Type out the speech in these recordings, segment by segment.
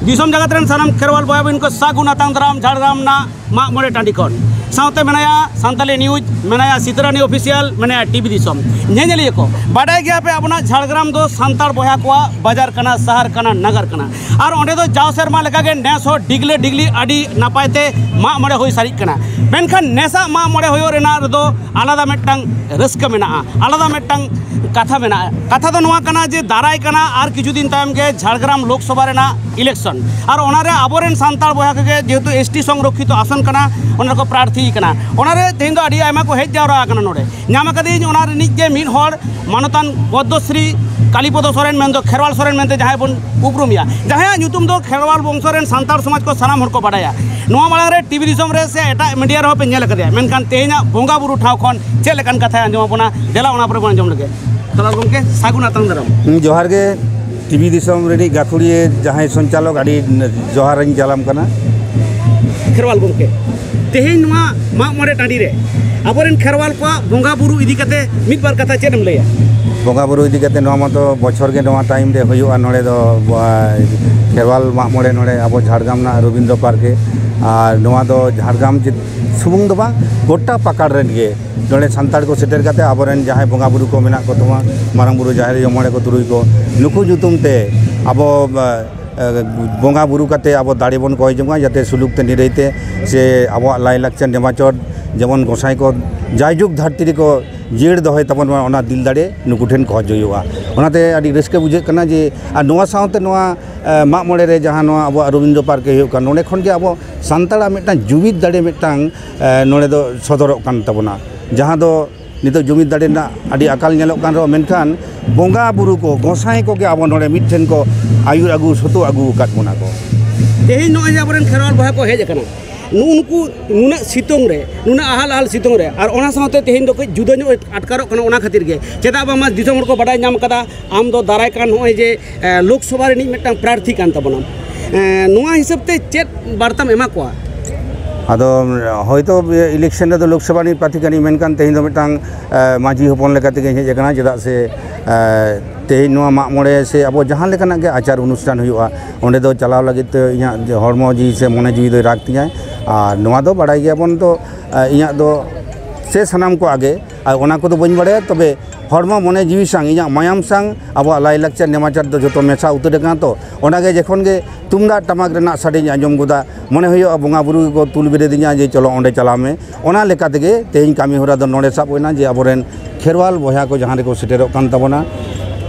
ᱫᱤᱥᱚᱢ ᱡᱟᱜᱟᱛ ᱨᱮᱱ ᱥᱟᱱᱟᱢ ᱠᱷᱮᱨᱣᱟᱞ ᱵᱚᱭᱟ ᱵᱤᱱ ᱠᱚ ᱥᱟᱹᱜᱩᱱ ᱟᱛᱟᱝ ᱫᱟᱨᱟᱢ ᱡᱷᱟᱲᱜᱨᱟᱢ ᱨᱮᱱᱟᱜ ᱢᱟᱜ ᱢᱚᱬᱮ ᱴᱟᱺᱰᱤ ᱠᱷᱚᱱ ᱥᱟᱶᱛᱮ ᱢᱮᱱᱟᱭᱟ ᱥᱟᱱᱛᱟᱞᱤ ᱱᱤᱭᱩᱡᱽ ᱢᱮᱱᱟᱭᱟ ᱥᱤᱛᱨᱟᱱᱤ ᱚᱯᱷᱤᱥᱤᱭᱟᱞ ᱢᱮᱱᱟᱭᱟ ᱴᱤᱵᱷᱤ ᱫᱤᱥᱚᱢ ᱧᱮᱧᱮᱞᱤᱭᱟᱹ ᱠᱚ ᱵᱟᱰᱟᱭ ᱜᱮᱭᱟ ᱯᱮ ᱟᱵᱚᱱᱟᱜ ᱡᱷᱟᱲᱜᱨᱟᱢ ᱫᱚ ᱥᱟᱱᱛᱟᱲ ᱵᱚᱭᱦᱟ ᱠᱚᱣᱟᱜ ᱵᱟᱡᱟᱨ ᱠᱟᱱᱟ ᱥᱟᱦᱟᱨ ᱠᱟᱱᱟ ᱱᱟᱜᱟᱨ ᱠᱟᱱᱟ ᱟᱨ ᱚᱸᱰᱮ ᱫᱚ ᱡᱟᱣ ᱥᱮᱨᱢᱟ ᱞᱮᱠᱟᱜᱮ ᱱᱮᱥ ᱦᱚᱸ ᱰᱤᱜᱽᱞᱮ ᱰᱤᱜᱽᱞᱤ ᱟᱹᱰᱤ ᱱᱟᱯᱟᱭ ᱛᱮ ᱢᱟᱜ ᱢᱚᱬᱮ ᱦᱩᱭ ᱥᱟᱹᱨᱤᱜ ᱠᱟᱱᱟ ᱢᱮᱱᱠᱷᱟᱱ ᱱᱮᱥᱟᱜ ᱢᱟᱜ ᱢᱚᱬᱮ ᱦᱩᱭᱩᱜ ᱨᱮᱱᱟᱜ ᱨᱮᱫᱚ ᱟᱞᱟᱫᱟ ᱢᱤᱫᱴᱟᱝ ᱨᱟᱹᱥᱠᱟᱹ ᱢᱮᱱᱟᱜᱼᱟ ᱟᱞᱟᱫᱟ ᱢᱤᱫᱴᱟᱝ ᱠᱟᱛᱷᱟ ᱢᱮᱱᱟᱜᱼᱟ ᱠᱟᱛᱷᱟ ᱫᱚ ᱱᱚᱣᱟ ᱠᱟᱱᱟ ᱡᱮ ᱫᱟᱨᱟᱭ ᱠᱟᱱᱟ ᱟᱨ ᱠᱤᱪᱷᱩ ᱫᱤᱱ ᱛᱟᱭᱚᱢ ᱜᱮ ᱡᱷᱟᱲᱜᱨᱟᱢ ᱞᱳᱠᱥᱚᱵᱷᱟ ᱨᱮᱱᱟᱜ ᱤᱞᱮᱠᱥᱚᱱ ᱟᱨ ᱚᱱᱟᱨᱮ ᱟᱵᱚᱨᱮᱱ ᱥᱟᱱᱛᱟᱲ ᱵᱚᱭᱦᱟ ᱠᱚᱜᱮ ᱡᱮᱦᱮᱛᱩ ᱮᱥ ᱴᱤ ᱥᱚᱝᱨᱚᱠᱠᱷᱤᱛᱚ ᱟᱥᱚᱱ ᱠᱟᱱᱟ ᱚᱱᱟ ᱨᱮᱠᱚ ᱯᱨᱟᱨᱛᱷᱤ ᱠᱟᱱᱟ ᱚᱱᱟᱨᱮ ᱛᱮᱦᱮᱧ ᱫᱚ ᱟᱹᱰᱤ ᱟᱭᱢᱟ ᱠᱚ ᱦᱮᱡ ᱡᱟᱣᱨᱟ ᱟᱠᱟᱱᱟ ᱱᱚᱰᱮ ᱧᱟᱢ ᱠᱟᱹᱫᱟᱹᱧ ᱚᱱᱟ ᱨᱤᱱᱤᱡ ᱜᱮ ᱢᱤᱫ ᱦᱚᱲ ᱢᱟᱱᱚᱛᱟᱱ ᱯᱚᱫᱽᱢᱚᱥᱨᱤ ᱠᱟᱞᱤᱯᱚᱫᱚ ᱥᱚᱨᱮᱱ ᱢᱮᱱᱫᱚ ᱠᱷᱮᱨᱣᱟᱞ ᱥᱚᱨᱮᱱ ᱢᱮᱱᱛᱮ ᱡᱟᱦᱟᱸᱭ ᱵᱚᱱ ᱩᱯᱨᱩᱢᱮᱭᱟ ᱡᱟᱦᱟᱸᱭᱟᱜ ᱧᱩᱛᱩᱢ ᱫᱚ ᱠᱷᱮᱨᱣᱟᱞ ᱵᱚᱝᱥᱚ ᱨᱮᱱ ᱥᱟᱱᱛᱟᱲ ᱥᱚᱢᱟᱡᱽ ᱠᱚ ᱥᱟᱱᱟᱢ ᱦᱚᱲ ᱠᱚ ᱵᱟᱰᱟᱭᱟ ᱱᱚᱣᱟ ᱢᱟᱲᱟᱝ ᱨᱮ ᱴᱤᱵᱷᱤ ᱫᱤᱥᱚᱢ ᱨᱮ ᱥᱮ ᱮᱴᱟᱜ ᱢᱤᱰᱤᱭᱟ ᱨᱮᱦᱚᱸ ᱯᱮ ᱧᱮᱞ ᱟᱠᱟᱫᱮᱭᱟ ᱢᱮᱱᱠᱷᱟᱱ ᱛᱮᱦᱮᱧᱟᱜ ᱵᱚᱸᱜᱟ ᱵᱩᱨᱩ ᱴᱷᱟᱶ ᱠᱷᱚᱱ ᱪᱮᱫ ᱞᱮᱠᱟᱱ ᱠᱟᱛᱷᱟᱭ ᱟᱸᱡᱚᱢ ᱟᱵᱚᱱᱟ ᱫᱮᱞᱟ ᱚᱱᱟ ᱯᱚᱨᱮ ᱵᱚᱱ ᱟᱸᱡᱚᱢ ᱞᱮᱜᱮ ᱛᱟᱦᱚᱞᱮ ᱜᱚᱢᱠᱮ ᱥᱟᱹᱜᱩᱱ ᱟᱛᱟᱝ ᱫᱟᱨᱟᱢ ᱡᱚᱦᱟᱨ ᱜᱮ ᱴᱤᱵᱷᱤ ᱫᱤᱥᱚᱢ ᱨᱤᱱᱤᱡ ᱜᱟᱹᱠᱷᱩᱲᱤᱭᱟᱹ ᱡᱟᱦᱟᱸᱭ ᱥᱚᱧᱪᱟᱞᱚᱠ ᱟᱹᱰᱤ ᱡᱚᱦᱟᱨ ᱤᱧ ᱪᱟᱞᱟᱢ ᱠᱟᱱᱟ ᱠᱷᱮᱨᱣᱟᱞ ᱜᱚᱢᱠᱮ ᱛᱮᱦᱮᱧ ᱱᱚᱣᱟ ᱢᱟᱜ ᱢᱚᱬᱮ ᱴᱟᱺᱰᱤ ᱨᱮ ᱟᱵᱚᱨᱮᱱ ᱠᱷᱮᱨᱣᱟᱞ ᱠᱚᱣᱟᱜ ᱵᱚᱸᱜᱟ ᱵᱩᱨᱩ ᱤᱫᱤ ᱠᱟᱛᱮ ᱢᱤᱫ ᱵᱟᱨ ᱠᱟᱛᱷᱟ ᱪᱮᱫ ᱮᱢ ᱞᱟᱹᱭᱟ ᱵᱚᱸᱜᱟ ᱵᱩᱨᱩ ᱤᱫᱤ ᱠᱟᱛᱮ ᱱᱚᱣᱟ ᱢᱟᱛᱚ ᱵᱚᱪᱷᱚᱨ ᱜᱮ ᱱᱚᱣᱟ ᱴᱟᱭᱤᱢ ᱨᱮ ᱦᱩᱭᱩᱜᱼᱟ ᱱᱚᱰᱮ ᱫᱚ ᱠᱷᱮᱨᱣᱟᱞ ᱢᱟᱜ ᱢᱚᱬᱮ ᱱᱚᱰᱮ ᱟᱵᱚ ᱡᱷᱟᱲᱜᱨᱟᱢ ᱨᱮᱱᱟᱜ ᱨᱚᱵᱤᱱᱫᱨᱚ ᱯᱟᱨᱠ ᱨᱮ ᱟᱨ ᱱᱚᱣᱟ ᱫᱚ ᱡᱷᱟᱲᱜᱨᱟᱢ ᱥᱩᱢᱩᱝ ᱫᱚ ᱵᱟᱝ ᱜᱚᱴᱟ ᱯᱟᱠᱟᱲ ᱨᱮᱱ ᱜᱮ ᱱᱚᱰᱮ ᱥᱟᱱᱛᱟᱲ ᱠᱚ ᱥᱮᱴᱮᱨ ᱠᱟᱛᱮ ᱟᱵᱚᱨᱮᱱ ᱡᱟᱦᱟᱸᱭ ᱵᱚᱸᱜᱟ ᱵᱩᱨᱩ ᱠᱚ ᱢᱮᱱᱟᱜ ᱠᱚ ᱛᱟᱵᱚᱱᱟ ᱢᱟᱨᱟᱝ ᱵᱩᱨᱩ ᱡᱟᱦᱮᱨ ᱟᱭᱳ ᱢᱚᱬᱮ ᱠᱚ ᱛᱩᱨᱩᱭ ᱠᱚ ᱱᱩᱠᱩ ᱧᱩᱛᱩᱢ ᱛᱮ ᱟᱵᱚ ᱵᱚᱸᱜᱟ ᱵᱩᱨᱩ ᱠᱟᱛᱮ ᱟᱵᱚ ᱫᱟᱲᱮ ᱵᱚᱱ ᱠᱚᱭ ᱡᱚᱝᱟ ᱡᱟᱛᱮ ᱥᱩᱞᱩᱠ ᱛᱮ ᱱᱤᱨᱟᱹᱭ ᱛᱮ ᱥᱮ ᱟᱵᱚᱣᱟᱜ ᱞᱟᱭᱼᱞᱟᱠᱪᱟᱨ ᱱᱮᱢᱟᱪᱟᱨ ᱡᱮᱢᱚᱱ ᱜᱚᱸᱥᱟᱭ ᱠᱚ ᱡᱟᱭᱡᱩᱜᱽ ᱫᱷᱟᱹᱨᱛᱤ ᱨᱮᱠᱚ ᱡᱤᱭᱟᱹᱲ ᱫᱚᱦᱚᱭ ᱛᱟᱵᱚᱱ ᱢᱟ ᱚᱱᱟ ᱫᱤᱞ ᱫᱟᱲᱮ ᱱᱩᱠᱩ ᱴᱷᱮᱱ ᱠᱷᱚᱡᱽ ᱦᱩᱭᱩᱜᱼᱟ ᱚᱱᱟᱛᱮ ᱟᱹᱰᱤ ᱨᱟᱹᱥᱠᱟᱹ ᱵᱩᱡᱷᱟᱹᱜ ᱠᱟᱱᱟ ᱡᱮ ᱟᱨ ᱱᱚᱣᱟ ᱥᱟᱶᱛᱮ ᱱᱚᱣᱟ ᱢᱟᱜ ᱢᱚᱬᱮ ᱨᱮ ᱡᱟᱦᱟᱸ ᱱᱚᱣᱟ ᱟᱵᱚᱣᱟᱜ ᱨᱚᱵᱤᱱᱫᱨᱚ ᱯᱟᱨᱠ ᱨᱮ ᱦᱩᱭᱩᱜ ᱠᱟᱱ ᱱᱚᱰᱮ ᱠᱷᱚᱱ ᱜᱮ ᱟᱵᱚ ᱥᱟᱱᱛᱟᱲᱟᱜ ᱢᱤᱫᱴᱟᱝ ᱡᱩᱢᱤᱫ ᱫᱟᱲᱮ ᱢᱤᱫᱴᱟᱝ ᱱᱚᱰᱮ ᱫᱚ ᱥᱚᱫᱚᱨᱚᱜ ᱠᱟᱱ ᱛᱟᱵᱚᱱᱟ ᱡᱟᱦᱟᱸ ᱫᱚ ᱱᱤᱛᱚᱜ ᱡᱩᱢᱤᱫ ᱫᱟᱲᱮ ᱨᱮᱱᱟᱜ ᱟᱹᱰᱤ ᱟᱠᱟᱞ ᱧᱮᱞᱚᱜ ᱠᱟᱱ ᱨᱮᱦᱚᱸ ᱢᱮᱱᱠᱷᱟᱱ ᱵᱚᱸᱜᱟ ᱵᱳᱨᱳ ᱠᱚ ᱜᱚᱸᱥᱟᱭ ᱠᱚᱜᱮ ᱟᱵᱚ ᱱᱚᱰᱮ ᱢᱤᱫ ᱴᱷᱮᱱ ᱠᱚ ᱟᱹᱭᱩᱨ ᱟᱹᱜᱩ ᱥᱩᱛᱩᱜ ᱟᱹᱜᱩ ᱟᱠᱟᱫ ᱵᱚᱱᱟ ᱠᱚ ᱛᱮᱦᱮᱧ ᱱᱚᱜᱼᱚᱭ ᱡᱮ ᱟᱵᱚᱨᱮᱱ ᱠᱷᱮᱨᱣᱟᱞ ᱵᱚᱭᱦᱟ ᱠᱚ ᱦᱮᱡ ᱟᱠᱟᱱᱟ ᱱᱩᱜᱼᱩ ᱱᱩᱠᱩ ᱱᱩᱱᱟᱹᱜ ᱥᱤᱛᱩᱝ ᱨᱮ ᱱᱩᱱᱟᱹᱜ ᱟᱦᱟᱞ ᱟᱦᱟᱞ ᱥᱤᱛᱩᱝ ᱨᱮ ᱟᱨ ᱚᱱᱟ ᱥᱟᱶᱛᱮ ᱛᱮᱦᱮᱧ ᱫᱚ ᱠᱟᱹᱡ ᱡᱩᱫᱟᱹ ᱧᱚᱜ ᱟᱴᱠᱟᱨᱚᱜ ᱠᱟᱱᱟ ᱚᱱᱟ ᱠᱷᱟᱹᱛᱤᱨ ᱜᱮ ᱪᱮᱫᱟᱜ ᱵᱟᱝᱢᱟ ᱫᱤᱥᱚᱢ ᱦᱚᱲ ᱠᱚ ᱵᱟᱰᱟᱭ ᱧᱟᱢ ᱠᱟᱫᱟ ᱟᱢ ᱫᱚ ᱫᱟᱨᱟᱭ ᱠᱟᱱ ᱱᱚᱜᱼᱚᱭ ᱡᱮ ᱞᱳᱠᱥᱚᱵᱷᱟ ᱨᱤᱱᱤᱡ ᱢᱤᱫᱴᱟᱝ ᱯᱨᱟᱨᱛᱷᱤ ᱠᱟᱱ ᱛᱟᱵᱚᱱᱟ ᱱᱚᱣᱟ ᱦᱤᱥᱟᱹᱵ ᱛᱮ ᱪᱮᱫ ᱵᱟᱨᱛᱟᱢ ᱮᱢᱟ ᱠᱚᱣᱟ ᱟᱫᱚ ᱦᱚᱭᱛᱳ ᱤᱞᱮᱠᱥᱮᱱ ᱨᱮᱫᱚ ᱞᱳᱠᱥᱚᱵᱷᱟ ᱨᱤᱱᱤᱡ ᱯᱨᱟᱨᱛᱷᱤ ᱠᱟᱹᱱᱟᱹᱧ ᱢᱮᱱᱠᱷᱟᱱ ᱛᱮᱦᱮᱧ ᱫᱚ ᱢᱤᱫᱴᱟᱝ ᱢᱟᱹᱡᱷᱤ ᱦᱚᱯᱚᱱ ᱞᱮᱠᱟ ᱛᱮᱜᱮᱧ ᱦᱮᱡ ᱟᱠᱟᱱᱟ ᱪᱮᱫᱟᱜ ᱥᱮ ᱛᱮᱦᱮᱧ ᱱᱚᱣᱟ ᱢᱟᱜ ᱢᱚᱬᱮ ᱥᱮ ᱟᱵᱚ ᱡᱟᱦᱟᱸ ᱞᱮᱠᱟᱱᱟᱜ ᱜᱮ ᱟᱪᱟᱨ ᱚᱱᱩᱥᱴᱷᱟᱱ ᱦᱩᱭᱩᱜᱼᱟ ᱚᱸᱰᱮ ᱫᱚ ᱪᱟᱞᱟᱣ ᱞᱟᱹᱜᱤᱫ ᱛᱮ ᱤᱧᱟᱹᱜ ᱦᱚᱲᱢᱚ ᱡᱤᱣᱤ ᱥᱮ ᱢᱚᱱᱮ ᱡᱤᱣᱤ ᱫᱚᱭ ᱨᱟᱜᱽ ᱛᱤᱧᱟᱹᱭ ᱟᱨ ᱱᱚᱣᱟ ᱫᱚ ᱵᱟᱲᱟᱭ ᱜᱮᱭᱟᱵᱚᱱ ᱛᱚ ᱤᱧᱟᱹᱜ ᱫᱚ ᱥᱮ ᱥᱟᱱᱟᱢ ᱠᱚᱣᱟᱜ ᱜᱮ ᱟᱨ ᱚᱱᱟ ᱠᱚᱫᱚ ᱵᱟᱹᱧ ᱵᱟᱲᱟᱭᱟ ᱛᱚᱵᱮ ᱦᱚᱲᱢᱚ ᱢᱚᱱᱮ ᱡᱤᱣᱤ ᱥᱟᱝ ᱤᱧᱟᱹᱜ ᱢᱟᱭᱟᱢ ᱥᱟᱝ ᱟᱵᱚᱣᱟᱜ ᱞᱟᱭᱼᱞᱟᱠᱪᱟᱨ ᱱᱮᱢᱟᱪᱟᱨ ᱫᱚ ᱡᱚᱛᱚ ᱢᱮᱥᱟ ᱩᱛᱟᱹᱨ ᱟᱠᱟᱱᱟ ᱛᱚ ᱚᱱᱟᱜᱮ ᱡᱚᱠᱷᱚᱱ ᱜᱮ ᱛᱩᱢᱫᱟᱜ ᱴᱟᱢᱟᱠ ᱨᱮᱱᱟᱜ ᱥᱟᱰᱮᱧ ᱟᱸᱡᱚᱢ ᱜᱚᱫᱟ ᱢᱚᱱᱮ ᱦᱩᱭᱩᱜᱼᱟ ᱵᱚᱸᱜᱟ ᱵᱩᱨᱩ ᱜᱮᱠᱚ ᱛᱩᱞ ᱵᱮᱨᱮᱫᱤᱧᱟ ᱡᱮ ᱪᱚᱞᱚ ᱚᱸᱰᱮ ᱪᱟᱞᱟᱣ ᱢᱮ ᱚᱱᱟ ᱞᱮᱠᱟ ᱛᱮᱜᱮ ᱛᱮᱦᱮᱧ ᱠᱟᱹᱢᱤ ᱦᱚᱨᱟ ᱫᱚ ᱱᱚᱸᱰᱮ ᱥᱟᱵ ᱦᱩᱭᱱᱟ ᱡᱮ ᱟᱵᱚ ᱨᱮᱱ ᱠᱷᱮᱨᱣᱟᱞ ᱵᱚᱭᱦᱟ ᱠᱚ ᱡᱟᱦᱟᱸ ᱨᱮᱠᱚ ᱥᱮᱴᱮᱨᱚᱜ ᱠᱟᱱ ᱛᱟᱵᱚᱱᱟ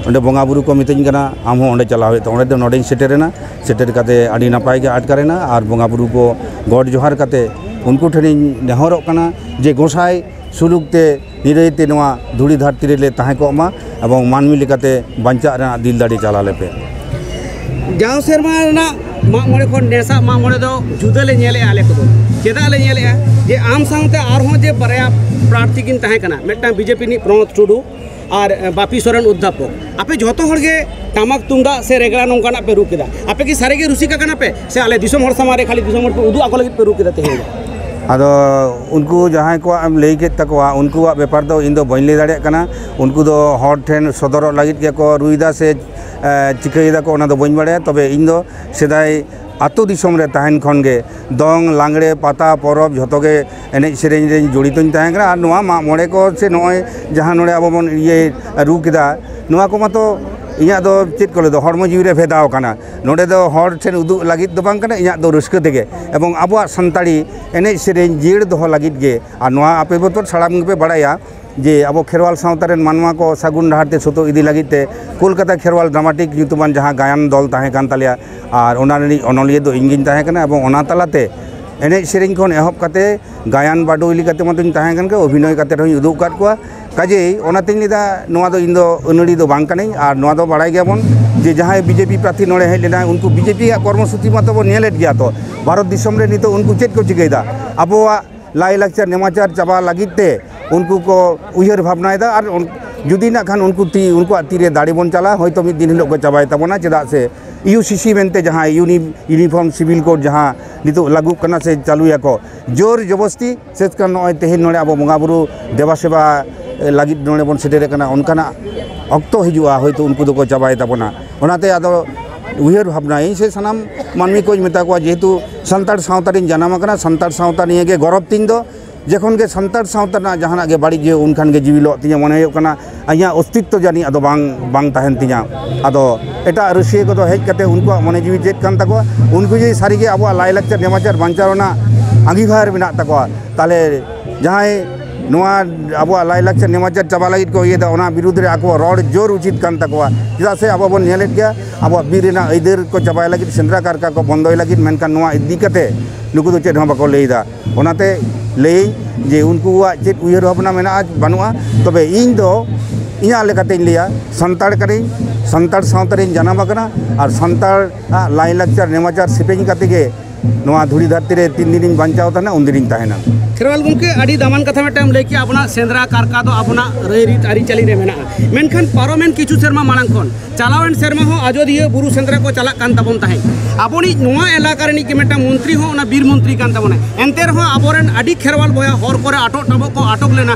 ᱚᱸᱰᱮ ᱵᱚᱸᱜᱟ ᱵᱩᱨᱩ ᱠᱚ ᱢᱤᱛᱟᱹᱧ ᱠᱟᱱᱟ ᱟᱢ ᱦᱚᱸ ᱚᱸᱰᱮ ᱪᱟᱞᱟᱣ ᱦᱩᱭᱩᱜ ᱛᱟᱢᱟ ᱚᱸᱰᱮ ᱫᱚ ᱱᱚᱸᱰᱮᱧ ᱥᱮᱴᱮᱨᱮᱱᱟ ᱥᱮᱴᱮᱨ ᱠᱟᱛᱮ ᱟᱹᱰᱤ ᱱᱟᱯᱟᱭ ᱜᱮ ᱟᱴᱠᱟᱨᱮᱱᱟ ᱟᱨ ᱵᱚᱸᱜᱟ ᱵᱩᱨᱩ ᱠᱚ ᱜᱚᱰ ᱡᱚᱦᱟᱨ ᱠᱟᱛᱮ ᱩᱱᱠᱩ ᱴᱷᱮᱱᱤᱧ ᱱᱮᱦᱚᱨᱚᱜ ᱠᱟᱱᱟ ᱡᱮ ᱜᱚᱸᱥᱟᱭ ᱥᱩᱞᱩᱠ ᱛᱮ ᱱᱤᱨᱟᱹᱭ ᱛᱮ ᱱᱚᱣᱟ ᱫᱷᱩᱲᱤ ᱫᱷᱟᱹᱨᱛᱤ ᱨᱮᱞᱮ ᱛᱟᱦᱮᱸ ᱠᱚᱜ ᱢᱟ ᱮᱵᱚᱝ ᱢᱟᱹᱱᱢᱤ ᱞᱮᱠᱟᱛᱮ ᱵᱟᱧᱪᱟᱜ ᱨᱮᱱᱟᱜ ᱫᱤᱞ ᱫᱟᱲᱮ ᱪᱟᱞ ᱟᱞᱮ ᱯᱮ ᱡᱟᱣ ᱥᱮᱨᱢᱟ ᱨᱮᱱᱟᱜ ᱢᱟᱜ ᱢᱚᱬᱮ ᱠᱷᱚᱱ ᱱᱮᱥᱟᱜ ᱢᱟᱜ ᱢᱚᱬᱮ ᱫᱚ ᱡᱩᱫᱟᱹ ᱞᱮ ᱧᱮᱞᱮᱜᱼᱟ ᱟᱞᱮ ᱠᱚᱫᱚ ᱪᱮᱫᱟᱜ ᱞᱮ ᱧᱮᱞᱮᱜᱼᱟ ᱡᱮ ᱟᱢ ᱥᱟᱶᱛᱮ ᱟᱨᱦᱚᱸ ᱡᱮ ᱵᱟᱨᱭᱟ ᱯᱨᱟᱨᱛᱷᱤ ᱠᱤᱱ ᱛᱟᱦᱮᱸ ᱠᱟᱱᱟ ᱢᱤᱫᱴᱟᱝ ᱵᱤᱡᱮᱯᱤ ᱨᱤᱱᱤᱡ ᱯᱨᱚᱱᱚᱛ ᱴᱩᱰᱩ ᱟᱨ ᱵᱟᱯᱤ ᱥᱚᱨᱮᱱ ᱚᱫᱽᱫᱷᱟᱯᱚᱠ ᱟᱯᱮ ᱡᱚᱛᱚ ᱦᱚᱲ ᱜᱮ ᱴᱟᱢᱟᱠ ᱛᱩᱢᱫᱟᱜ ᱥᱮ ᱨᱮᱜᱽᱲᱟ ᱱᱚᱝᱠᱟᱱᱟᱜ ᱯᱮ ᱨᱩ ᱠᱮᱫᱟ ᱟᱯᱮ ᱠᱤ ᱥᱟᱹᱨᱤ ᱜᱮ ᱨᱩᱥᱤᱠᱟ ᱠᱟᱱᱟ ᱯᱮ ᱥᱮ ᱟᱞᱮ ᱫᱤᱥᱚᱢ ᱦᱚᱲ ᱥᱟᱢᱟᱝ ᱨᱮ ᱠᱷᱟᱹᱞᱤ ᱫᱤᱥᱚᱢ ᱦᱚᱲ ᱯᱮ ᱩᱫᱩᱜ ᱟᱠᱚ ᱞᱟᱹᱜᱤᱫ ᱯᱮ ᱨᱩ ᱠᱮᱫᱟ ᱛᱮᱦᱮᱧ ᱫᱚ ᱟᱫᱚ ᱩᱱᱠᱩ ᱡᱟᱦᱟᱸᱭ ᱠᱚᱣᱟᱜ ᱮᱢ ᱞᱟᱹᱭ ᱠᱮᱫ ᱛᱟᱠᱚᱣᱟ ᱩᱱᱠᱩᱣᱟᱜ ᱵᱮᱯᱟᱨ ᱫᱚ ᱤᱧ ᱫᱚ ᱵᱟᱹᱧ ᱞᱟᱹᱭ ᱫᱟᱲᱮᱭᱟᱜ ᱠᱟᱱᱟ ᱩᱱᱠᱩ ᱫᱚ ᱦᱚᱲ ᱴᱷᱮᱱ ᱥᱚᱫᱚᱨᱚᱜ ᱞᱟᱹᱜᱤᱫ ᱜᱮᱠᱚ ᱨᱩᱭᱫᱟ ᱥᱮ ᱪᱤᱠᱟᱹᱭ ᱫᱟᱠᱚ ᱚᱱᱟ ᱫᱚ ᱵᱟᱹᱧ ᱵᱟᱲᱟᱭᱟ ᱛᱚᱵᱮ ᱤᱧ ᱫᱚ ᱥᱮᱫᱟᱭ ᱟᱛᱳ ᱫᱤᱥᱚᱢ ᱨᱮ ᱛᱟᱦᱮᱱ ᱠᱷᱚᱱ ᱜᱮ ᱫᱚᱝ ᱞᱟᱜᱽᱬᱮ ᱯᱟᱛᱟ ᱯᱚᱨᱚᱵᱽ ᱡᱷᱚᱛᱚ ᱜᱮ ᱮᱱᱮᱡ ᱥᱮᱨᱮᱧ ᱨᱮ ᱡᱚᱲᱤᱛᱚᱧ ᱛᱟᱦᱮᱸ ᱠᱟᱱᱟ ᱟᱨ ᱱᱚᱣᱟ ᱢᱟᱜ ᱢᱚᱬᱮ ᱠᱚ ᱥᱮ ᱱᱚᱜᱼᱚᱭ ᱡᱟᱦᱟᱸ ᱱᱚᱰᱮ ᱟᱵᱚ ᱵᱚᱱ ᱤᱭᱟᱹᱭᱮᱫ ᱨᱩ ᱠᱮᱫᱟ ᱱᱚᱣᱟ ᱠᱚ ᱢᱟᱛᱚ ᱤᱧᱟᱹᱜ ᱫᱚ ᱪᱮᱫ ᱠᱚ ᱞᱟᱹᱭᱫᱟ ᱦᱚᱲᱢᱚ ᱡᱤᱣᱤ ᱨᱮ ᱵᱷᱮᱫᱟᱣ ᱠᱟᱱᱟ ᱱᱚᱰᱮ ᱫᱚ ᱦᱚᱲ ᱴᱷᱮᱱ ᱩᱫᱩᱜ ᱞᱟᱹᱜᱤᱫ ᱫᱚ ᱵᱟᱝ ᱠᱟᱱᱟ ᱤᱧᱟᱹᱜ ᱫᱚ ᱨᱟᱹᱥᱠᱟᱹ ᱛᱮᱜᱮ ᱮᱵᱚᱝ ᱟᱵᱚᱣᱟᱜ ᱥᱟᱱᱛᱟᱲᱤ ᱮᱱᱮᱡ ᱥᱮᱨᱮᱧ ᱡᱤᱭᱟᱹᱲ ᱫᱚᱦᱚ ᱞᱟᱹᱜᱤᱫ ᱜᱮ ᱟᱨ ᱱᱚᱣᱟ ᱟᱯᱮ ᱢᱟᱛᱚ ᱥᱟᱱᱟᱢ ᱜᱮᱯᱮ ᱵᱟᱲᱟᱭᱟ ᱡᱮ ᱟᱵᱚ ᱠᱷᱮᱨᱣᱟᱞ ᱥᱟᱶᱛᱟ ᱨᱮᱱ ᱢᱟᱱᱣᱟ ᱠᱚ ᱥᱟᱹᱜᱩᱱ ᱰᱟᱦᱟᱨ ᱛᱮ ᱥᱩᱛᱩᱜ ᱤᱫᱤ ᱞᱟᱹᱜᱤᱫ ᱛᱮ ᱠᱳᱞᱠᱟᱛᱟ ᱠᱷᱮᱨᱣᱟᱞ ᱰᱨᱟᱢᱟᱴᱤᱠ ᱧᱩᱛᱩᱢᱟᱱ ᱡᱟᱦᱟᱸ ᱜᱟᱭᱟᱱ ᱫᱚᱞ ᱛᱟᱦᱮᱸ ᱠᱟᱱ ᱛᱟᱞᱮᱭᱟ ᱟᱨ ᱚᱱᱟ ᱨᱤᱱᱤᱡ ᱚᱱᱚᱞᱤᱭᱟᱹ ᱫᱚ ᱤᱧ ᱜᱤᱧ ᱛᱟᱦᱮᱸ ᱠᱟᱱᱟ ᱮᱵᱚᱝ ᱚᱱᱟ ᱛᱟᱞᱟᱛᱮ ᱮᱱᱮᱡ ᱥᱮᱨᱮᱧ ᱠᱷᱚᱱ ᱮᱦᱚᱵ ᱠᱟᱛᱮ ᱜᱟᱭᱟᱱ ᱵᱟᱰᱚᱭ ᱞᱮᱠᱟᱛᱮ ᱢᱟᱛᱚᱧ ᱛᱟᱦᱮᱸ ᱠᱟᱱ ᱜᱮ ᱚᱵᱷᱤᱱᱚᱭ ᱠᱟᱛᱮ ᱦᱚᱸᱧ ᱩᱫᱩᱜ ᱟᱠᱟᱫ ᱠᱚᱣᱟ ᱠᱟᱡᱮᱭ ᱚᱱᱟᱛᱮᱧ ᱞᱟᱹᱭᱫᱟ ᱱᱚᱣᱟ ᱫᱚ ᱤᱧ ᱫᱚ ᱟᱹᱱᱟᱹᱲᱤ ᱫᱚ ᱵᱟᱝ ᱠᱟᱹᱱᱟᱹᱧ ᱟᱨ ᱱᱚᱣᱟ ᱫᱚ ᱵᱟᱲᱟᱭ ᱜᱮᱭᱟᱵᱚᱱ ᱡᱮ ᱡᱟᱦᱟᱸᱭ ᱵᱤᱡᱮᱯᱤ ᱯᱨᱟᱨᱛᱷᱤ ᱱᱚᱰᱮ ᱦᱮᱡ ᱞᱮᱱᱟᱭ ᱩᱱᱠᱩ ᱵᱤᱡᱮᱯᱤ ᱭᱟᱜ ᱠᱚᱨᱢᱚ ᱥᱩᱪᱤ ᱢᱟᱛᱚ ᱵᱚᱱ ᱧᱮᱞᱮᱫ ᱜᱮᱭᱟ ᱛᱚ ᱵᱷᱟᱨᱚᱛ ᱫᱤᱥᱚᱢ ᱨᱮ ᱱᱤᱛᱚᱜ ᱩᱱᱠᱩ ᱪᱮᱫ ᱠᱚ ᱪᱤᱠᱟᱹᱭᱮᱫᱟ ᱟᱵᱚᱣᱟᱜ ᱞᱟᱭᱼᱞᱟᱠᱪᱟᱨ ᱱᱮᱢᱟᱪᱟᱨ ᱪᱟᱵᱟ ᱞᱟᱹᱜᱤᱫ ᱛᱮ ᱩᱱᱠᱩ ᱠᱚ ᱩᱭᱦᱟᱹᱨ ᱵᱷᱟᱵᱽᱱᱟᱭᱮᱫᱟ ᱟᱨ ᱡᱩᱫᱤ ᱱᱟᱜ ᱠᱷᱟᱱ ᱩᱱᱠᱩ ᱛᱤ ᱩᱱᱠᱩᱣᱟᱜ ᱛᱤᱨᱮ ᱫᱟᱲᱮ ᱵᱚᱱ ᱪᱟᱞᱟᱜᱼᱟ ᱦᱚᱭᱛᱳ ᱢᱤᱫ ᱫᱤᱱ ᱦᱤᱞᱳᱜ ᱠᱚ ᱪᱟᱵᱟᱭ ᱛᱟᱵᱚᱱᱟ ᱪᱮᱫᱟᱜ ᱥᱮ ᱤᱭᱩ ᱥᱤ ᱥᱤ ᱢᱮᱱᱛᱮ ᱡᱟᱦᱟᱸ ᱤᱭᱩᱱᱤ ᱤᱭᱩᱱᱤᱯᱷᱚᱨᱢ ᱥᱤᱵᱤᱞ ᱠᱳᱰ ᱡᱟᱦᱟᱸ ᱱᱤᱛᱚᱜ ᱞᱟᱹᱜᱩᱜ ᱠᱟᱱᱟ ᱥᱮ ᱪᱟᱹᱞᱩᱭᱟᱠᱚ ᱡᱳᱨ ᱡᱚᱵᱚᱥᱛᱤ ᱥᱮᱫ ᱠᱟᱱ ᱱᱚᱜᱼᱚᱭ ᱛᱮᱦᱮᱧ ᱱᱚᱰᱮ ᱟᱵᱚ ᱵᱚᱸᱜᱟ ᱵᱩᱨᱩ ᱫᱮᱵᱟ ᱥᱮᱵᱟ ᱞᱟᱹᱜᱤᱫ ᱱᱚᱰᱮ ᱵᱚᱱ ᱥᱮᱴᱮᱨ ᱟᱠᱟᱱᱟ ᱚᱱᱠᱟᱱᱟᱜ ᱚᱠᱛᱚ ᱦᱤᱡᱩᱜᱼᱟ ᱦᱚᱭᱛᱳ ᱩᱱᱠᱩ ᱫᱚᱠᱚ ᱪᱟᱵᱟᱭ ᱛᱟᱵᱚᱱᱟ ᱚᱱᱟᱛᱮ ᱟᱫᱚ ᱩᱭᱦᱟᱹᱨ ᱵᱷᱟᱵᱽᱱᱟ ᱤᱧ ᱥᱮ ᱥᱟᱱᱟᱢ ᱢᱟᱹᱱᱢᱤ ᱠᱚᱧ ᱢᱮᱛᱟ ᱠᱚᱣᱟ ᱡᱮᱦᱮᱛᱩ ᱥᱟᱱᱛᱟᱲ ᱥᱟᱶᱛᱟ ᱨᱤᱧ ᱡᱟᱱᱟᱢ ᱟᱠᱟᱱᱟ ᱥᱟᱱᱛᱟᱲ ᱥᱟᱶᱛᱟ ᱱᱤᱭᱮ ᱜᱮ ᱜᱚᱨᱚᱵᱽ ᱛᱤᱧ ᱫᱚ ᱡᱚᱠᱷᱚᱱ ᱜᱮ ᱥᱟᱱᱛᱟᱲ ᱥᱟᱶᱛᱟ ᱨᱮᱱᱟᱜ ᱡᱟᱦᱟᱱᱟᱜ ᱜᱮ ᱵᱟᱹᱲᱤᱡ ᱦᱩᱭᱩᱜ ᱩᱱᱠᱷᱟᱱ ᱜᱮ ᱡᱤᱣᱤ ᱞᱚᱜ ᱛᱤᱧᱟᱹ ᱢᱚᱱᱮ ᱦᱩᱭᱩᱜ ᱠᱟᱱᱟ ᱤᱧᱟᱹᱜ ᱚᱥᱛᱤᱛᱛᱚ ᱡᱟᱹᱱᱤᱡ ᱟᱫᱚ ᱵᱟᱝ ᱵᱟᱝ ᱛᱟᱦᱮᱱ ᱛᱤᱧᱟᱹ ᱟᱫᱚ ᱮᱴᱟᱜ ᱨᱟᱹᱥᱤᱭᱟᱹ ᱠᱚᱫᱚ ᱦᱮᱡ ᱠᱟᱛᱮ ᱩᱱᱠᱩᱣᱟᱜ ᱢᱚᱱᱮ ᱡᱤᱣᱤ ᱪᱮᱫ ᱠᱟᱱ ᱛᱟᱠᱚᱣᱟ ᱩᱱᱠᱩ ᱡᱩᱫᱤ ᱥᱟᱹᱨᱤ ᱜᱮ ᱟᱵᱚᱣᱟᱜ ᱞᱟᱭᱼᱞᱟᱠᱪᱟᱨ ᱱᱮᱢᱟᱪᱟᱨ ᱵᱟᱧᱪᱟᱣ ᱨᱮᱱᱟᱜ ᱟᱺᱜᱤᱵᱷᱟᱨ ᱢᱮᱱᱟᱜ ᱛᱟᱠᱚᱣᱟ ᱛᱟᱦᱚᱞᱮ ᱡᱟᱦᱟᱸᱭ ᱱᱚᱣᱟ ᱟᱵᱚᱣᱟᱜ ᱞᱟᱭᱞᱟᱠᱪᱟᱨ ᱱᱮᱢᱟᱪᱟᱨ ᱪᱟᱵᱟ ᱞᱟᱹᱜᱤᱫ ᱠᱚ ᱤᱭᱟᱹᱭᱮᱫᱟ ᱚᱱᱟ ᱵᱤᱨᱩᱫᱽ ᱨᱮ ᱟᱠᱚ ᱨᱚᱲ ᱡᱳᱨ ᱩᱪᱤᱛ ᱠᱟᱱ ᱛᱟᱠᱚᱣᱟ ᱪᱮᱫᱟᱜ ᱥᱮ ᱟᱵᱚ ᱵᱚᱱ ᱧᱮᱞᱮᱫ ᱜᱮᱭᱟ ᱟᱵᱚᱣᱟᱜ ᱵᱤᱨ ᱨᱮᱱᱟᱜ ᱟᱹᱭᱫᱟᱹᱨ ᱠᱚ ᱪᱟᱵᱟᱭ ᱞᱟᱹᱜᱤᱫ ᱥᱮᱸᱫᱽᱨᱟ ᱠᱟᱨᱠᱟ ᱠᱚ ᱵᱚᱱᱫᱚᱭ ᱞᱟᱹᱜᱤᱫ ᱢᱮᱱᱠᱷᱟᱱ ᱱᱚᱣᱟ ᱤᱫᱤ ᱠᱟᱛᱮ ᱱᱩᱠᱩ ᱫᱚ ᱪᱮᱫ ᱦᱚᱸ ᱵᱟᱠᱚ ᱞᱟᱹᱭᱮᱫᱟ ᱚᱱᱟᱛᱮ ᱞᱟᱹᱭ ᱡᱮ ᱩᱱᱠᱩᱣᱟᱜ ᱪᱮᱫ ᱩᱭᱦᱟᱹᱨ ᱵᱷᱟᱵᱽᱱᱟ ᱢᱮᱱᱟᱜᱼᱟ ᱵᱟᱹᱱᱩᱜᱼᱟ ᱛᱚᱵᱮ ᱤᱧ ᱫᱚ ᱤᱧᱟᱹᱜ ᱞᱮᱠᱟᱛᱮᱧ ᱞᱟᱹᱭᱟ ᱥᱟᱱᱛᱟᱲ ᱠᱟᱹᱱᱟᱹᱧ ᱥᱟᱱᱛᱟᱲ ᱥᱟᱶᱛᱟ ᱨᱤᱧ ᱡᱟᱱᱟᱢ ᱟᱠᱟᱱᱟ ᱟᱨ ᱥᱟᱱᱛᱟᱲᱟᱜ ᱞᱟᱭᱞᱟᱠᱪᱟᱨ ᱱᱮᱢᱟᱪᱟᱨ ᱥᱮᱯᱮᱧ ᱠᱟᱛᱮ ᱜᱮ ᱱᱚᱣᱟ ᱫᱷᱩᱲᱤ ᱫᱷᱟᱹᱨᱛᱤ ᱨᱮ ᱛᱤᱱ ᱫᱤᱱᱤᱧ ᱵᱟᱧᱪᱟᱣ ᱛᱟᱦᱮᱱᱟ ᱩᱱ ᱫᱤᱱᱤᱧ ᱛᱟᱦᱮᱱᱟ ᱠᱷᱮᱨᱣᱟᱞ ᱜᱚᱢᱠᱮ ᱟᱹᱰᱤ ᱫᱟᱢᱟᱱ ᱠᱟᱛᱷᱟ ᱢᱤᱫᱴᱟᱝ ᱞᱟᱹᱭ ᱠᱮᱜᱼᱟ ᱟᱵᱚᱱᱟᱜ ᱥᱮᱸᱫᱽᱨᱟ ᱠᱟᱨᱠᱟ ᱫᱚ ᱟᱵᱚᱱᱟᱜ ᱨᱟᱹᱭ ᱨᱤᱛ ᱟᱹᱨᱤᱪᱟᱹᱞᱤ ᱨᱮ ᱢᱮᱱᱟᱜᱼᱟ ᱢᱮᱱᱠᱷᱟᱱ ᱯᱟᱨᱚᱢᱮᱱ ᱠᱤᱪᱷᱩ ᱥᱮᱨᱢᱟ ᱢᱟᱲᱟᱝ ᱠᱷᱚᱱ ᱪᱟᱞᱟᱣᱮᱱ ᱥᱮᱨᱢᱟ ᱦᱚᱸ ᱟᱡᱚᱫᱤᱭᱟᱹ ᱵᱩᱨᱩ ᱥᱮᱸᱫᱽᱨᱟ ᱠᱚ ᱪᱟᱞᱟᱜ ᱠᱟᱱ ᱛᱟᱵᱚᱱ ᱛᱟᱦᱮᱸᱫ ᱟᱵᱚᱱᱤᱡ ᱱᱚᱣᱟ ᱮᱞᱟᱠᱟ ᱨᱤᱱᱤᱡ ᱜᱮ ᱢᱤᱫᱴᱟᱝ ᱢᱚᱱᱛᱨᱤ ᱦᱚᱸ ᱚᱱᱟ ᱵᱤᱨ ᱢᱚᱱᱛᱨᱤ ᱠᱟᱱ ᱛᱟᱵᱚᱱᱟᱭ ᱮᱱᱛᱮ ᱨᱮᱦᱚᱸ ᱟᱵᱚᱨᱮᱱ ᱟᱹᱰᱤ ᱠᱷᱮᱨᱣᱟᱞ ᱵᱚᱭᱦᱟ ᱦᱚᱨ ᱠᱚᱨᱮ ᱟᱴᱚᱜ ᱴᱟᱵᱚᱜ ᱠᱚ ᱟᱴᱚᱠ ᱞᱮᱱᱟ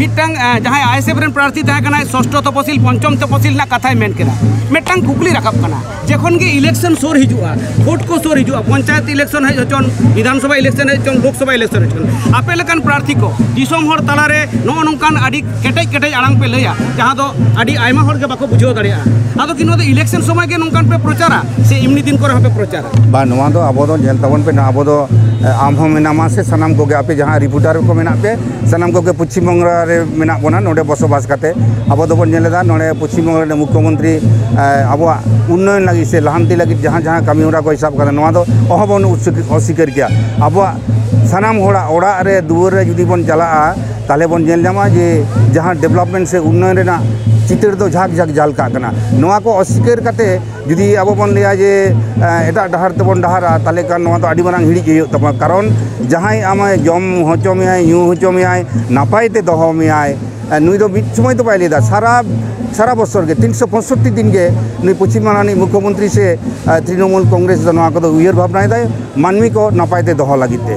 ᱢᱤᱫᱴᱟᱝ ᱡᱟᱦᱟᱸᱭ ᱟᱭᱮᱥᱮᱯ ᱨᱮᱱ ᱯᱨᱟᱨᱛᱷᱤ ᱛᱟᱦᱮᱸ ᱠᱟᱱᱟᱭ ᱥᱚᱥᱴᱚ ᱛᱚᱯᱚᱥᱤᱞ ᱯᱚᱧᱪᱚᱢ ᱛᱚᱯᱚᱥᱤᱞ ᱨᱮᱱᱟᱜ ᱠᱟᱛᱷᱟᱭ ᱢᱮᱱ ᱠᱮᱫᱟ ᱢᱤᱫᱴᱟᱝ ᱠᱩᱠᱞᱤ ᱨᱟᱠᱟᱵ ᱠᱟᱱᱟ ᱡᱚᱠᱷᱚᱱ ᱜᱮ ᱤᱞᱮᱠᱥᱚᱱ ᱥᱳᱨ ᱦᱤᱡᱩᱜᱼᱟ ᱵᱷᱳᱴ ᱠᱚ ᱥᱳᱨ ᱦᱤᱡᱩᱜᱼᱟ ᱯᱚᱧᱪᱟᱭᱮᱛ ᱤᱞᱮᱠᱥᱚᱱ ᱦᱮᱡ ᱦᱚᱪᱚᱱ ᱵᱤᱫᱷᱟᱱ ᱥᱚᱵᱷᱟ ᱤᱞᱮᱠᱥᱚᱱ ᱦᱮᱡ ᱦᱚᱪᱚᱱ ᱞᱳᱠ ᱥᱚᱵᱷᱟ ᱤᱞᱮᱠᱥᱚᱱ ᱦᱮᱡ ᱦᱚᱪᱚᱱ ᱟᱯᱮ ᱞᱮᱠᱟᱱ ᱯᱨᱟᱨᱛᱷᱤ ᱠᱚ ᱫᱤᱥᱚᱢ ᱦᱚᱲ ᱛᱟᱞᱟᱨᱮ ᱱᱚᱜᱼᱚ ᱱᱚᱝᱠᱟᱱ ᱟᱹᱰᱤ ᱠᱮᱴᱮᱡ ᱠᱮᱴᱮᱡ ᱟᱲᱟᱝ ᱯᱮ ᱞᱟᱹᱭᱟ ᱡᱟᱦᱟᱸ ᱫᱚ ᱟᱹᱰᱤ ᱟᱭᱢᱟ ᱦᱚᱲ ᱜᱮ ᱵᱟᱠᱚ ᱵᱩᱡᱷᱟᱹᱣ ᱫᱟᱲᱮᱭᱟᱜᱼᱟ ᱟᱫᱚ ᱠᱤ ᱱᱚᱣᱟ ᱫᱚ ᱤᱞᱮᱠᱥᱚᱱ ᱥᱚᱢᱚᱭ ᱜᱮ ᱱᱚᱝᱠᱟᱱ ᱯᱮ ᱯᱨᱚᱪᱟᱨᱟ ᱥᱮ ᱮᱢᱱᱤ ᱫᱤᱱ ᱠᱚᱨᱮ ᱦᱚᱸᱯᱮ ᱯᱨᱚᱪᱟᱨᱟ ᱵᱟ ᱱᱚᱣᱟ ᱫᱚ ᱟᱵᱚ ᱫᱚ ᱧᱮᱞ ᱛᱟᱵᱚᱱ ᱯᱮ ᱱᱟ ᱟᱵᱚ ᱫᱚ ᱟᱢ ᱦᱚᱸ ᱢᱮᱱᱟᱢᱟ ᱥᱮ ᱥᱟᱱᱟᱢ ᱠᱚᱜᱮ ᱟᱯᱮ ᱡᱟᱦᱟᱸ ᱨᱤᱯᱳᱨᱴᱟᱨ ᱠᱚ ᱢᱮᱱᱟᱜ ᱯᱮ ᱥᱟᱱᱟᱢ ᱠᱚᱜᱮ ᱯᱚᱪᱷᱤᱢ ᱵᱟᱝᱞᱟ ᱨᱮ ᱢᱮᱱᱟᱜ ᱵᱚᱱᱟ ᱱᱚᱰᱮ ᱵᱚᱥᱚᱵᱟᱥ ᱠᱟᱛᱮ ᱟᱵᱚ ᱫᱚᱵᱚᱱ ᱧᱮᱞ ᱮᱫᱟ ᱱᱚᱰᱮ ᱯᱚᱪᱷᱤᱢ ᱵᱟᱝᱞᱟ ᱨᱮᱱ ᱢᱩᱠᱷᱭᱚ ᱢᱚᱱᱛᱨᱤ ᱟᱵᱚᱣᱟᱜ ᱩᱱᱱᱚᱭᱚᱱ ᱞᱟᱹᱜᱤᱫ ᱥᱮ ᱞᱟᱦᱟᱱᱛᱤ ᱞᱟᱹᱜᱤᱫ ᱡᱟᱦᱟᱸ ᱡᱟᱦᱟᱸ ᱠᱟᱹᱢᱤ ᱦᱚᱨᱟ ᱠᱚᱭ ᱥᱟᱵ ᱠᱟᱫᱟ ᱱᱚᱣᱟ ᱫᱚ ᱚᱦᱚ ᱵᱚᱱ ᱚᱥᱤᱠᱟᱹᱨ ᱠᱮᱭᱟ ᱟᱵᱚᱣᱟᱜ ᱥᱟᱱᱟᱢ ᱦᱚᱲᱟᱜ ᱚᱲᱟᱜ ᱨᱮ ᱫᱩᱣᱟᱹᱨ ᱨᱮ ᱡᱩᱫᱤ ᱵᱚᱱ ᱪᱟᱞᱟᱜᱼᱟ ᱛᱟᱦᱞᱮ ᱵᱚᱱ ᱧᱮᱞ ᱧᱟᱢᱟ ᱡᱮ ᱡᱟᱦᱟᱸ ᱰᱮᱵᱷᱞᱚᱯᱢᱮᱱᱴ ᱥᱮ ᱩᱱᱱᱚᱭᱚᱱ ᱨᱮᱱᱟᱜ ᱪᱤᱛᱟᱹᱨ ᱫᱚ ᱡᱷᱟᱠ ᱡᱷᱟᱠ ᱡᱷᱟᱞᱠᱟᱜ ᱠᱟᱱᱟ ᱱᱚᱣᱟ ᱠᱚ ᱚᱥᱤᱠᱟᱹᱨ ᱠᱟᱛᱮ ᱡᱩᱫᱤ ᱟᱵᱚ ᱵᱚᱱ ᱞᱟᱹᱭᱟ ᱡᱮ ᱮᱴᱟᱜ ᱰᱟᱦᱟᱨ ᱛᱮᱵᱚᱱ ᱰᱟᱦᱟᱨᱟ ᱛᱟᱦᱚᱞᱮ ᱠᱷᱟᱱ ᱱᱚᱣᱟ ᱫᱚ ᱟᱹᱰᱤ ᱢᱟᱨᱟᱝ ᱦᱤᱲᱤᱡ ᱦᱩᱭᱩᱜ ᱛᱟᱵᱚᱱᱟ ᱠᱟᱨᱚᱱ ᱡᱟᱦᱟᱸᱭ ᱟᱢᱮ ᱡᱚᱢ ᱦᱚᱪᱚ ᱢᱮᱭᱟᱭ ᱧᱩ ᱦᱚᱪᱚ ᱢᱮᱭᱟᱭ ᱱᱟᱯᱟᱭ ᱛᱮ ᱫᱚᱦᱚ ᱢᱮᱭᱟᱭ ᱱᱩᱭ ᱫᱚ ᱢᱤᱫ ᱥᱚᱢᱚᱭ ᱫᱚ ᱵᱟᱭ ᱞᱟᱹᱭᱫᱟ ᱥᱟᱨᱟ ᱥᱟᱨᱟ ᱵᱚᱪᱷᱚᱨ ᱜᱮ ᱛᱤᱱᱥᱚ ᱯᱚᱸᱭᱥᱚᱴᱴᱤ ᱫᱤᱱ ᱜᱮ ᱱᱩᱭ ᱯᱚᱪᱷᱤᱢ ᱵᱟᱝᱞᱟ ᱨᱤᱱᱤᱡ ᱢᱩᱠᱷᱭᱚ ᱢᱚᱱᱛᱨᱤ ᱥᱮ ᱛᱨᱤᱱᱚᱢᱩᱞ ᱠᱚᱝᱜᱨᱮᱥ ᱫᱚ ᱱᱚᱣᱟ ᱠᱚᱫᱚ ᱩᱭᱦᱟᱹᱨ ᱵᱷᱟᱵᱽᱱᱟᱭᱮᱫᱟᱭ ᱢᱟᱹᱱᱢᱤ ᱠᱚ ᱱᱟᱯᱟᱭ ᱛᱮ ᱫᱚᱦᱚ ᱞᱟᱹᱜᱤᱫ ᱛᱮ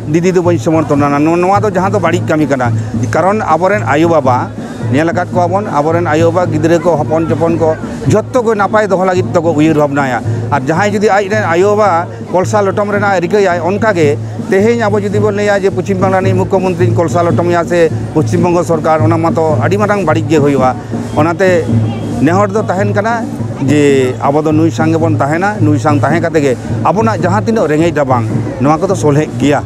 ᱫᱤᱫᱤ ᱫᱚ ᱵᱟᱹᱧ ᱥᱚᱢᱚᱨᱛᱷᱚᱱᱟ ᱱᱚᱣᱟ ᱫᱚ ᱡᱟᱦᱟᱸ ᱫᱚ ᱵᱟᱹᱲᱤᱡ ᱠᱟᱹᱢᱤ ᱠᱟᱱᱟ ᱠᱟᱨᱚᱱ ᱟᱵᱚ ᱨᱮᱱ ᱟᱭᱳ ᱵᱟᱵᱟ ᱧᱮᱞ ᱟᱠᱟᱫ ᱠᱚᱣᱟ ᱵᱚᱱ ᱟᱵᱚ ᱨᱮᱱ ᱟᱭᱳ ᱵᱟᱵᱟ ᱜᱤᱫᱽᱨᱟᱹ ᱠᱚ ᱦᱚᱯᱚᱱ ᱡᱚᱠᱷᱚᱱ ᱠᱚ ᱡᱚᱛᱚ ᱠᱚ ᱱᱟᱯᱟᱭ ᱫᱚᱦᱚ ᱞᱟᱹᱜᱤᱫ ᱛᱮᱠᱚ ᱩᱭᱦᱟᱹᱨ ᱵᱷᱟᱵᱽᱱᱟᱭᱟ ᱟᱨ ᱡᱟᱦᱟᱸᱭ ᱡᱩᱫᱤ ᱟᱡ ᱨᱮᱱ ᱟᱭᱳ ᱵᱟᱵᱟ ᱠᱚᱞᱥᱟ ᱞᱚᱴᱚᱢ ᱨᱮᱱᱟᱜ ᱮ ᱨᱤᱠᱟᱹᱭᱟᱭ ᱚᱱᱠᱟ ᱜᱮ ᱛᱮᱦᱮᱧ ᱟᱵᱚ ᱡᱩᱫᱤ ᱵᱚᱱ ᱞᱟᱹᱭᱟ ᱡᱮ ᱯᱚᱪᱷᱤᱢ ᱵᱟᱝᱞᱟ ᱨᱤᱱᱤᱡ ᱢᱩᱠᱠᱷᱚ ᱢᱚᱱᱛᱨᱤᱧ ᱠᱚᱞᱥᱟ ᱞᱚᱴᱚᱢᱮᱭᱟ ᱥᱮ ᱯᱚᱪᱷᱤᱢ ᱵᱚᱝᱜᱚ ᱥᱚᱨᱠᱟᱨ ᱚᱱᱟ ᱢᱟᱛᱚ ᱟᱹᱰᱤ ᱢᱟᱨᱟᱝ ᱵᱟᱹᱲᱤᱡ ᱜᱮ ᱦᱩᱭᱩᱜᱼᱟ ᱚᱱᱟᱛᱮ ᱱᱮᱦᱚᱨ ᱫᱚ ᱛᱟᱦᱮᱱ ᱠᱟᱱᱟ ᱡᱮ ᱟᱵᱚ ᱫᱚ ᱱᱩᱭ ᱥᱟᱝ ᱜᱮᱵᱚᱱ ᱛᱟᱦᱮᱱᱟ ᱱᱩᱭ ᱥᱟᱝ ᱛᱟᱦᱮᱸ ᱠᱟᱛᱮ ᱜᱮ ᱟᱵᱚᱱᱟᱜ ᱡᱟᱦᱟᱸ ᱛᱤᱱᱟᱹᱜ ᱨᱮᱸᱜᱮᱡ ᱨᱟᱵᱟᱝ ᱱᱚᱣᱟ ᱠᱚᱫᱚ ᱥᱚᱞᱦᱮᱜ ᱜᱮᱭᱟ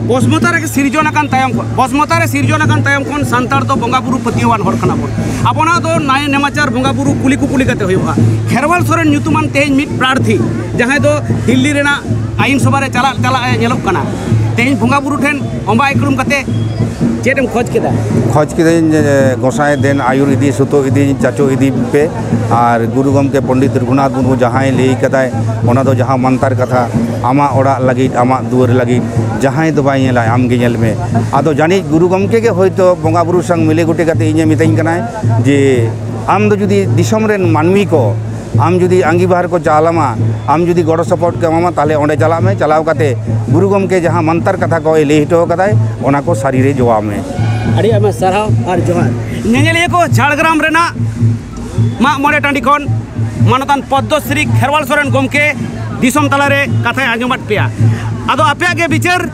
ᱵᱚᱥᱢᱚᱛᱟ ᱨᱮᱜᱮ ᱥᱤᱨᱡᱚᱱ ᱟᱠᱟᱱ ᱛᱟᱭᱚᱢ ᱠᱷᱚᱱ ᱵᱚᱥᱢᱚᱛᱟ ᱨᱮ ᱥᱤᱨᱡᱚᱱ ᱟᱠᱟᱱ ᱛᱟᱭᱚᱢ ᱠᱷᱚᱱ ᱥᱟᱱᱛᱟᱲ ᱫᱚ ᱵᱚᱸᱜᱟ ᱵᱩᱨᱩ ᱯᱟᱹᱛᱭᱟᱹᱣᱟᱱ ᱦᱚᱲ ᱠᱟᱱᱟ ᱵᱚᱱ ᱟᱵᱚᱱᱟᱜ ᱫᱚ ᱱᱟᱭ ᱱᱮᱢᱟᱪᱟᱨ ᱵᱚᱸᱜᱟ ᱵᱩᱨᱩ ᱠᱩᱞᱤ ᱠᱩᱯᱩᱞᱤ ᱠᱟᱛᱮ ᱦᱩᱭᱩᱜᱼᱟ ᱠᱷᱮᱨᱣᱟᱞ ᱥᱚᱨᱮᱱ ᱧᱩᱛᱩᱢᱟᱱ ᱛᱮᱦᱮᱧ ᱢᱤᱫ ᱯᱨᱟᱨᱛᱷᱤ ᱡᱟᱦᱟᱸᱭ ᱫᱚ ᱫᱤᱞᱞᱤ ᱨᱮᱱᱟᱜ ᱟᱭᱤᱱ ᱥᱚᱵᱷᱟ ᱨᱮ ᱪᱟᱞᱟᱜ ᱪᱟᱞᱟᱜ ᱮ ᱧᱮᱞᱚᱜ ᱠᱟᱱᱟ ᱛᱮᱦᱮᱧ ᱵᱚᱸᱜᱟ ᱵᱩᱨᱩ ᱴᱷᱮᱱ ᱚᱢᱵᱟ ᱤᱠᱲᱩᱢ ᱠᱟᱛᱮ ᱪᱮᱫ ᱮᱢ ᱠᱷᱚᱡ ᱠᱮᱫᱟ ᱠᱷᱚᱡ ᱠᱮᱫᱟᱹᱧ ᱜᱚᱸᱥᱟᱭ ᱫᱮᱱ ᱟᱭᱩᱨ ᱤᱫᱤ ᱥᱩᱛᱚ ᱤᱫᱤ ᱪᱟᱪᱚ ᱤᱫᱤ ᱯᱮ ᱟᱨ ᱜᱩᱨᱩ ᱜᱚᱢᱠᱮ ᱯᱚᱱᱰᱤᱛ ᱨᱚᱜᱷᱩᱱᱟᱛᱷ ᱢᱩᱨᱢᱩ ᱡᱟᱦᱟᱸᱭ ᱞᱟᱹᱭ ᱠᱟᱫᱟᱭ ᱚᱱᱟ ᱫᱚ ᱡᱟᱦᱟᱸ ᱢᱟᱱᱛᱟᱨ ᱠᱟᱛᱷᱟ ᱟᱢᱟᱜ ᱚᱲᱟᱜ ᱞᱟᱹᱜᱤᱫ ᱟᱢᱟᱜ ᱫᱩᱣᱟᱹᱨ ᱞᱟᱹᱜᱤᱫ ᱡᱟᱦᱟᱸᱭ ᱫᱚ ᱵᱟᱭ ᱧᱮᱞᱟ ᱟᱢ ᱜᱮ ᱧᱮᱞ ᱢᱮ ᱟᱫᱚ ᱡᱟᱹᱱᱤᱡ ᱜᱩᱨᱩ ᱜᱚᱢᱠᱮ ᱜᱮ ᱦᱚᱭᱛᱚ ᱵᱚᱸᱜᱟ ᱵᱩᱨᱩ ᱥᱟᱝ ᱢᱤᱞᱮ ᱜᱚᱴᱮ ᱠᱟᱛᱮ ᱤᱧᱮ ᱢᱤᱛᱟᱹᱧ ᱠᱟᱱᱟᱭ ᱡᱮ ᱟᱢ ᱫᱚ ᱡᱩᱫᱤ ᱫᱤᱥᱚᱢ ᱨᱮᱱ ᱢᱟᱹᱱᱢᱤ ᱠᱚ ᱟᱢ ᱡᱩᱫᱤ ᱟᱸᱜᱤᱵᱷᱟᱨ ᱠᱚ ᱪᱟᱞ ᱟᱢᱟ ᱟᱢ ᱡᱩᱫᱤ ᱜᱚᱲᱚ ᱥᱚᱯᱚᱦᱚᱫ ᱠᱚ ᱮᱢᱟᱢᱟ ᱛᱟᱦᱚᱞᱮ ᱚᱸᱰᱮ ᱪᱟᱞᱟᱜ ᱢᱮ ᱪᱟᱞᱟᱣ ᱠᱟᱛᱮ ᱜᱩᱨᱩ ᱜᱚᱢᱠᱮ ᱡᱟᱦᱟᱸ ᱢᱟᱱᱛᱟᱨ ᱠᱟᱛᱷᱟ ᱠᱚᱭ ᱞᱟᱹᱭ ᱦᱚᱴᱚ ᱟᱠᱟᱫᱟᱭ ᱚᱱᱟ ᱠᱚ ᱥᱟᱹᱨᱤ ᱨᱮ ᱡᱚᱣᱟᱣ ᱢᱮ ᱟᱹᱰᱤ ᱟᱭᱢᱟ ᱥᱟᱨᱦᱟᱣ ᱟᱨ ᱡᱚᱦᱟᱨ ᱧᱮᱧᱮᱞᱤᱭᱟᱹ ᱠᱚ ᱡᱷᱟᱲᱜᱨᱟᱢ ᱨᱮᱱᱟᱜ ᱢᱟᱜ ᱢᱚᱬᱮ ᱴᱟᱺᱰᱤ ᱠᱷᱚᱱ ᱢᱟᱱᱚᱛᱟᱱ ᱯᱚᱫᱽᱢᱚᱥᱨᱤ ᱠᱷᱮᱨᱣᱟᱞ ᱥᱚᱨᱮᱱ ᱜᱚᱢᱠᱮ ᱫᱤᱥᱚᱢ ᱛᱟᱞᱟᱨᱮ ᱠᱟᱛᱷᱟᱭ ᱟᱸᱡᱚᱢᱟᱫ ᱯᱮᱭᱟ ᱟᱫᱚ ᱟᱯᱮᱭᱟᱜ ᱜᱮ ᱵᱤᱪᱟᱹᱨ